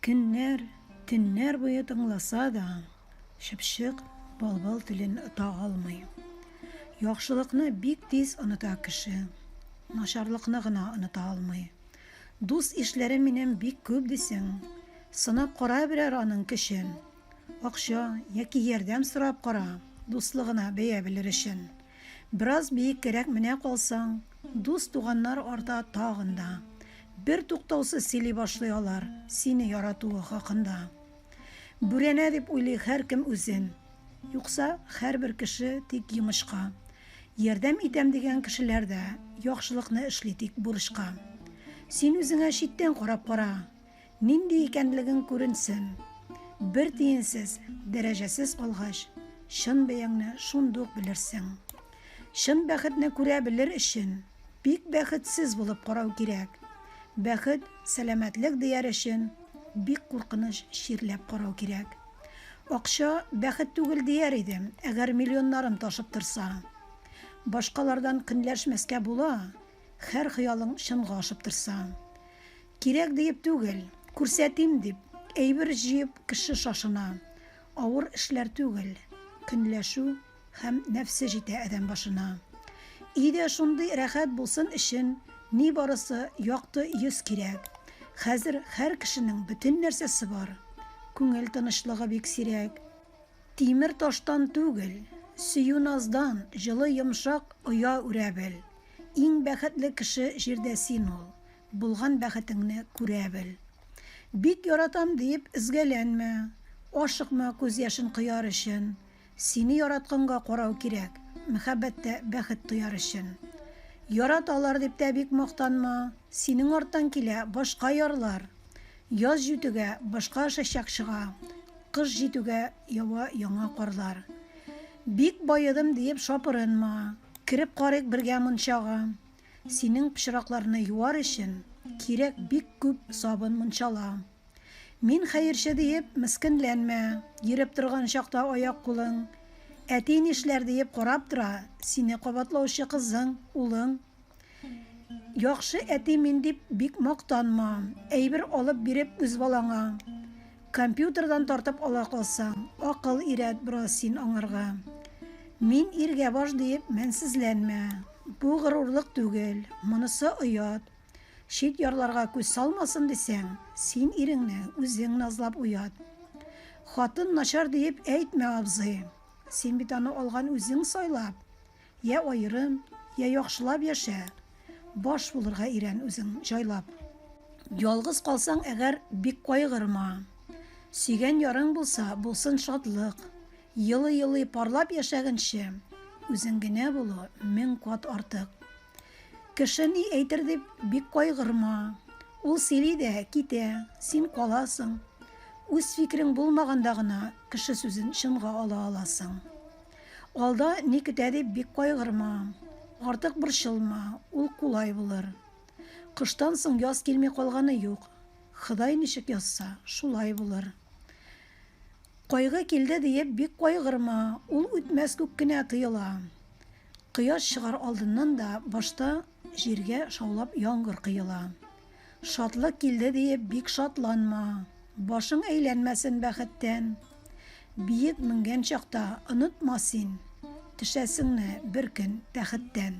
Көннәр, төннәр буе тыңласа да, чыпчык былбыл телен ота алмый. Яхшылыкны бик тиз оныта кеше, начарлыкны гына оныта алмый. Дус-ишләрем минем бик күп дисең, сынап кара берәр аның көчен. Акча яки ярдәм сорап кара, дуслыгына бәя белер өчен. Бераз биеккәрәк менә калсаң, дус-туганнар арта тагын да. Бер туктаусыз сөйли башлый алар сине яратуы хакында. Бүрәнә дип уйлый һәркем үзен. Юкса, һәрбер кеше тик йомычка. Ярдәм итәм дигән кешеләр дә яхшылыкны эшли тик бурычка. Син үзеңә читтән карап кара. Нинди икәнлегең күренсен. Бер тиенсез, дәрәҗәсез алгач, чын бәяңне шундук белерсең. Чын бәхетне күрә белер өчен, бик бәхетсез булып карау кирәк. Бәхет, сәламәтлек дияр өчен, бик куркыныч чирләп карау кирәк. Акча бәхет түгел дияр идем, әгәр миллионнарым ташып торса. Башкалардан көнләшмәскә була, хәр хыялың чынга ашып торса. Кирәк диеп түгел, күрсәтим дип, әйбер җыеп кеше шашына. Авыр эшләр түгел, көнләшү һәм нәфсе җитә адәм башына. Өйдә шундый рәхәт булсын өчен, нибарысы якты йөз кирәк. Хәзер һәр кешенең бөтен нәрсәсе бар. Күңел тынычлыгы бик сирәк. Тимер таштан түгел, сөю-наздан җылы йомшак оя үрә бел. Иң бәхетле кеше җирдә син ул. Булган бәхетеңне күрә бел. Бик яратам диеп өзгәләнмә, ашыкма күз яшен кояр өчен. Сине яратканга карау кирәк, мөхәббәттә бәхет тояр өчен. Яраталар дип тә бик мактанма, синең арттан килә башка ярлар. Яз җүтегә, башка чәчәк чыга, кыш җитүгә ява яңа карлар. Бик баедым диеп шапырынма, кереп карыйк бергә мунчага. Синең пычракларны юар өчен кирәк бик күп сабын мунчала. Мин хәерче диеп мескенләнмә, йөреп торган чакта аяк-кулың, әти нишләр диеп карап тора, сине кабатлаучы кызың, улың. Яхшы әти мин дип бик мактанма, әйбер алып биреп үз балаңа. Компьютердан тартып ала калсаң, акыл өйрәт бераз син аңарга. Мин иргә баш диеп мәнсезләнмә. Бу горурлык түгел, монысы оят. Чит ярларга күз салмасын дисәң, син иреңне үзең назлап уят. Хатын начар диеп әйтмә, абзый. Син бит аны алган үзең сайлап. Йә аерым, йә яхшылап яшә, Баш булырга өйрән үзең җайлап. Ялгыз калсаң әгәр, бик кайгырма, Сөйгән ярың булса, булсын шатлык. Елый-елый парлап яшәгенче, Үзең генә булу мең кат артык. Кеше ни әйтер дип, бик кайгырма, Ул сөйли дә, китә, син каласың. Үз фикерең булмаганда гына, Кеше сүзен чынга ала аласың. Алда ни көтә дип бик кайгырма. Артык борчылма, ул кулай булыр. Кыштан соң яз килми калганы юк. Ходай ничек язса, шулай булыр. Кайгы килде диеп бик кайгырма, ул үтмәс күк кенә тоела. Кояш чыгар алдыннан да башта Җиргә шаулап яңгыр коела. Шатлык килде диеп бик шатланма, Башың әйләнмәсен бәхеттән. Биек менгән чакта онытма син, Төшәсеңне бер көн тәхеттән.